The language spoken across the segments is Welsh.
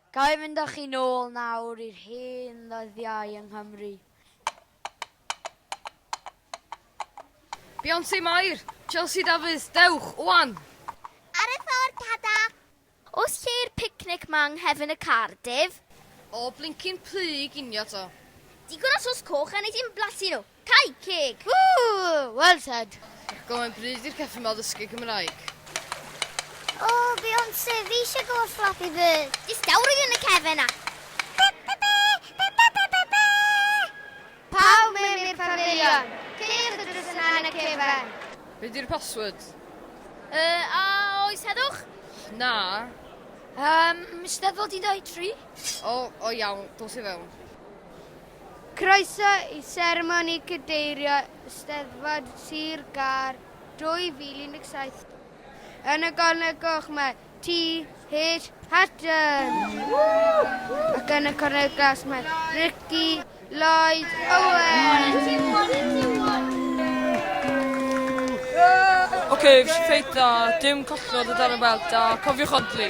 Ga i fynd â chi nôl nawr i'r hen ddyddiau yng Nghymru? Beyonce Mair! Chelsea Dafydd, dewch, ŵan! Ar y ffordd, Tada! Oes lle i'r picnic 'ma yng nghefn y Cardiff? O blincin plu i ginio 'to. Digon o sos coch a neith dim blasu nhw. Cau ceg! Ww! Well said! Diolch gymaint bryd i'r ceffyn ma ddysgu Cymraeg. O, Beyonce, fi eisiau gweld Flappy Bird. Distawrwydd yn y cefn a... Pawb mewn i'r pafilion. Ceir y drws yna yn y cefn. Be di'r password? Yy, a oes heddwch? Na. Yym, Steddfod 13? O, o iawn, dos i fewn. Croeso i seremoni cadeirio Eisteddfod Sir Gâr 2017 yn y Gornel Goch mae TH Hatton ac yn y Cornel Glas mae Ricky Lloyd Owen. Ocê, fes i ffeit dda, dim collnod o dan y belt a cofiwch odli.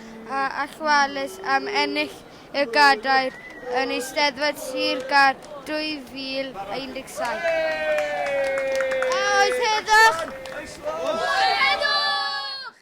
a allweddus am ennill y gadair yn Eisteddfod Sir Gâr 2017. A oedd heddwch? Oedd heddwch!